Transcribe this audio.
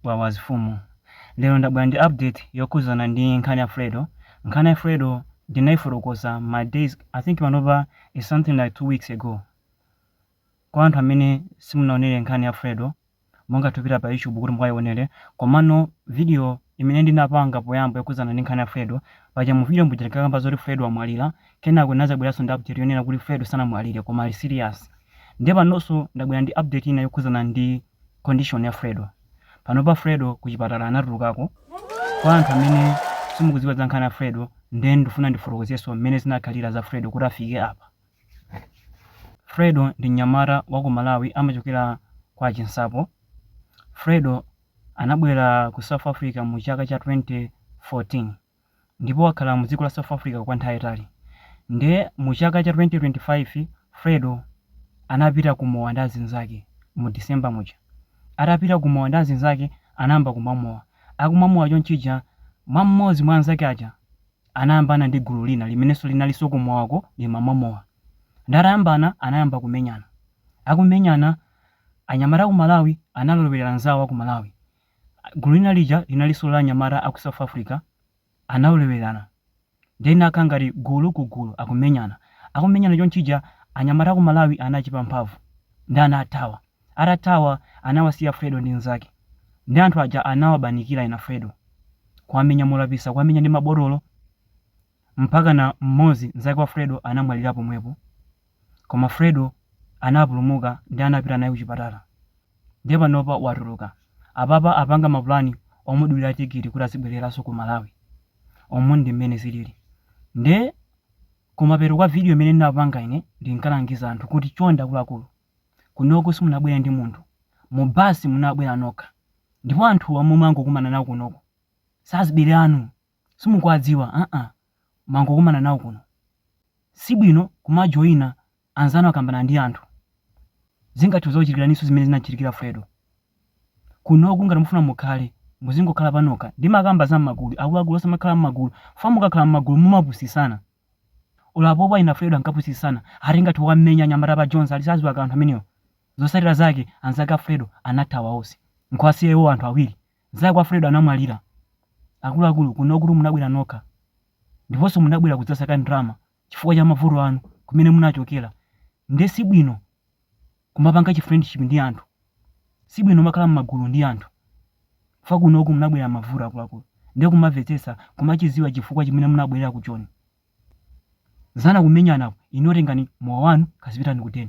wawa zifumu lero ndabwera ndi update yokhuzana ndi nkhani ya fredo nkhani ya fredo ndinaifotokoza ma days i think panopa is something like two weeks ago kwa anthu amene simunaonere nkhani ya fredo mungathe kupita pa youtube kuti mukayionere komano video imene ndinapanga poyamba yokhuzana ndi nkhani ya fredo paja mu video muja tinkakamba zoti fredo amwalira kenako ndinazabweranso ndi update yonena kuti fredo sanamwalire koma ali serious ndiye panonso ndabwera ndi update ina yokhuzana ndi condition ya Fredo. Panopa Fredo kuchipatala anatulukako. Kwa anthu amene simukudziwa za nkhani ya Fredo, ndiye ndifuna ndifotokozenso mmene zinakhalira za Fredo kuti afike apa. Fredo ndi mnyamata wa ku Malawi amachokera kwa Chinsapo. Fredo anabwera ku South Africa mu chaka cha 2014. ndipo wakhala mu dziko la South Africa kwa nthawi yayitali. Nde mu chaka cha 2025 Fredo anapita ku mowa ndi azinzake mu December muja. Atapita ku mowa ndi azinzake anayamba kumamwa mowa. Akumwa mowa chonchija mwa mmodzi mwa anzake aja anayambana ndi gulu lina limenenso linalinso ku mowako limamwa mowa. Nde atayambana anayamba kumenyana. Akumenyana anyamata aku Malawi analowerera anzawo aku Malawi. Gulu lina lija linalinso la anyamata a ku South Africa analowererana ndiye linakhala ngati gulu ku gulu akumenyana. Akumenyana chonchija anyamata a ku Malawi anachepa mphamvu ndiye anathawa. Atathawa anawasiya Fredo ndi mnzake ndiye anthu aja anawabanikira ena Fredo kuwamenya molapitsa kuwamenya ndi mabotolo mpakana mmodzi mnzake wa Fredo anamwalira pomwepo. Koma Fredo anapulumuka nde anapita naye kuchipatala nde panopa watuluka. Apapa apanga mapulani omudulira tikiti kuti azibwereranso ku Malawi. Umu ndi mmene zilili. Nde kumapeto kwa video imene ndinapanga ine ndinkalangiza anthu kuti chonde akuluakulu, kunoko simunabwere ndi munthu, mu bus munabwera nokha ndipo anthuwa omwe mwangokumana nawo kunoko si azibale anu. simukuwadziwa mwangokumana nawo kuno sibwino kumajoina anzanu akayambana ndi anthu zingathe kuzakuchitikiraninso zimene zinachitikira fredo kunoko ngati mufuna mukhale muzingokhala panokha ndimakamba za mmagulu akuluakulu osamakhala mmagulu fa mukakhala mmagulu mumapusitsana olo pompa ena fredo ankapusitsana ati tingawamenye anyamata a pa joni sadziwa kanthu amenewo zotsatira zake anzake a fredo anathawa onse nkuwasiya iwo anthu awiri Mzake wa Fredo anamwalira. Akuluakulu, kunokutu munabwera nokha. Ndiponso munabwera kudzasaka ndalama chifukwa cha mavuto anu kumene munachokera. Nde si bwino kumapanga chi friendship ndi anthu. Si bwino kumakhala m'magulu ndi anthu. Chifukwa kunoko munabwerera mavuto akuluakulu. Nde kumamvetsetsa, kumachidziwa chifukwa chimene munabwerera ku Joni. Zinazi kumenyanaku, inuyo tengani mowa wanu kazipitani ku den.